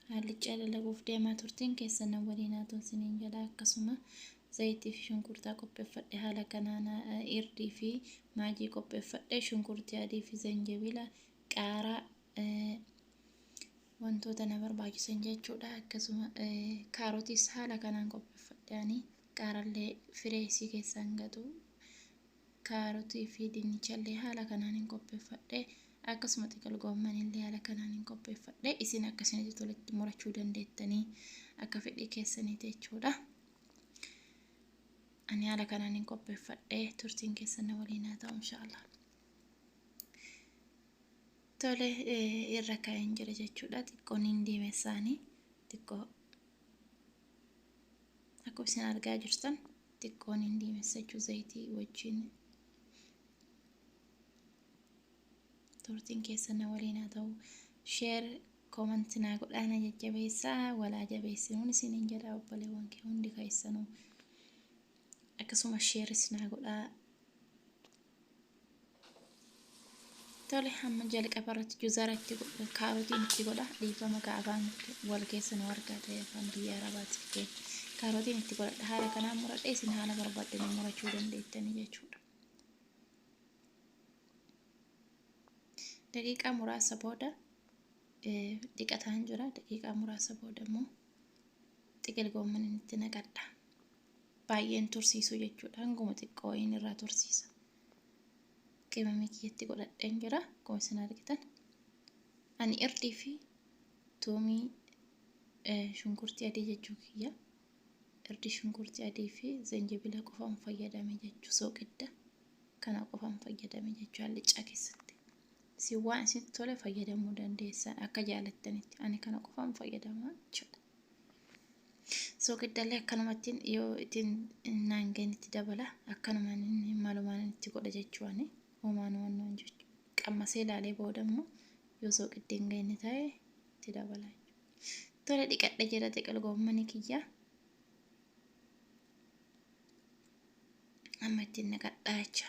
Haallichaa lalabuuf deemaa turteen keessa na waliin haa ta'u siniin jedha akkasuma zayitii fi shunkurtaa qopheeffadhe haala kanaan irdii fi maajii qopheeffadhe shunkurtii adii fi zanjabila qaaraa eh, wantoota na barbaachisan jechuudha akkasuma eh, kaarotiis haala kanaan qopheeffadhaani qaarallee firee isii keessaan gatu kaarotii fi dinnichallee haala kanaan hin qopheeffadhe akkasuma xiqil goommanillee haala kanaan hin qopheeffadhe isin akkasinitti tolitti murachuu dandeettanii akka fedhii keessanii jechuudha. ani haala kanaan hin qopheeffadhe turtiin keessan na waliin haa ta'u inshaallah. Tole irra kaa'een jira jechuudha. Xiqqoon hin diimessaanii xiqqoo akkuma isin argaa jirtan xiqqoon hin diimessa jechuun zayitii wajjin turtiin keessa na waliin haa ta'u sheer koomanti naa godhaana jajjabeessaa walaa jabeessinuun isiniin jedha obboleewwan kee hundi keessanuu akkasuma sheeris naa godhaa Tole hamma jalqaba irratti juzara itti godha kaarotiin itti godha dhiifama ka afaan wal keessa nu argaa ta'e afaan biyya arabaati ta'e kaarotiin itti godhadha haala kanaan muradhe isin haala barbaaddan murachuu dandeettanii jechuudha. Daqiiqaa muraasa booda dhiqataan jira daqiiqaa muraasa booda immoo xiqil goomman itti naqadha. baay'ee hin tursiisu jechuudha. Hanguma xiqqoo wayiin irraa tursiisa. Qimamii kiyyatti godhadheen jira. Akkuma isin argitan. Ani irdii fi tuumii shunkurtii adii jechuu kiyya. Irdii shunkurtii adii fi zanjibila qofaan fayyadame jechuu sooqidda. Kana qofaan fayyadame jechuu hallichaa keessatti. Isin waan isinitti tole fayyadamuu dandeessan akka jaalattanitti. Ani kana qofaan fayyadama jechuudha. Soogiddallee akkanumattiin yoo ittiin naangeen itti dabala akkanumaan inni malumaan inni itti godha jechuu ani homaan wannoon jechu qammasee ilaalee booda immoo yoo sooqiddiin geenye ta'e itti dabala tole dhiqadhe jira xiqil goommani kiyya amma ittiin naqadhaa jecha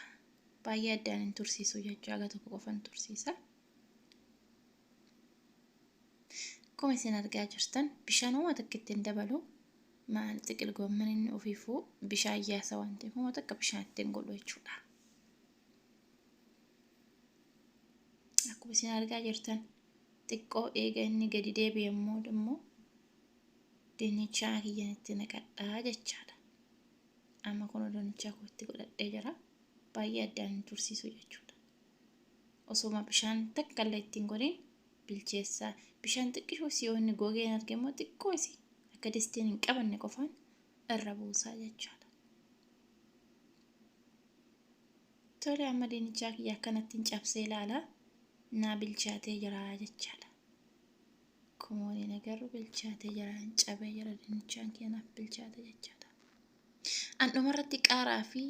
baay'ee addaan hin tursiisu jechuu aga tokko qofan tursiisa Akkuma isin argaa jirtan bishaan homa takka itti hin dabalu. Maal xiqil goomman inni ofiifuu bishaan yaasa waan ta'eef homa takka bishaan itti hin godhu jechuudha. Akkuma isin argaa jirtan xiqqoo eega inni gadi deebi'e immoo immoo dinnichaa kiyyan itti naqadhaa jechaadha. Amma kun dinnichaa koo itti godhadhee jira. Baay'ee addaan hin tursiisu jechuudha. osooma bishaan takkallee ittiin godhin bilcheessa bishaan xiqqishoo isii yoo inni gogee hin arge immoo xiqqoo isii akka distiin hin qabanne qofaan irra buusaa jechaadha. Tole amma diinichaa kiyya akkanattiin cabsee ilaala naa bilchaatee jira jechaadha. Kumooliin agarru bilchaatee jira hin cabee jira diinichaan kiyya naaf bilchaate jechaadha. An dhumarratti qaaraa fi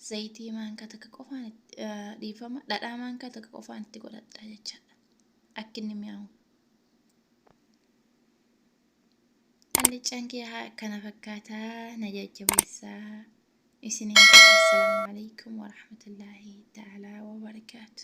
zayitii maankaa takka qofaan itti- eh, dhiifama dhadhaa maankaa takka qofaan itti godhadha jechaadha. Akka inni mi'aawu. Allichaan kee haa akkana fakkaataa na jajjabeessaa. Isiniin jedha assalaamu alaikum warahmatullaahi ta'aalaa wabarakaatu.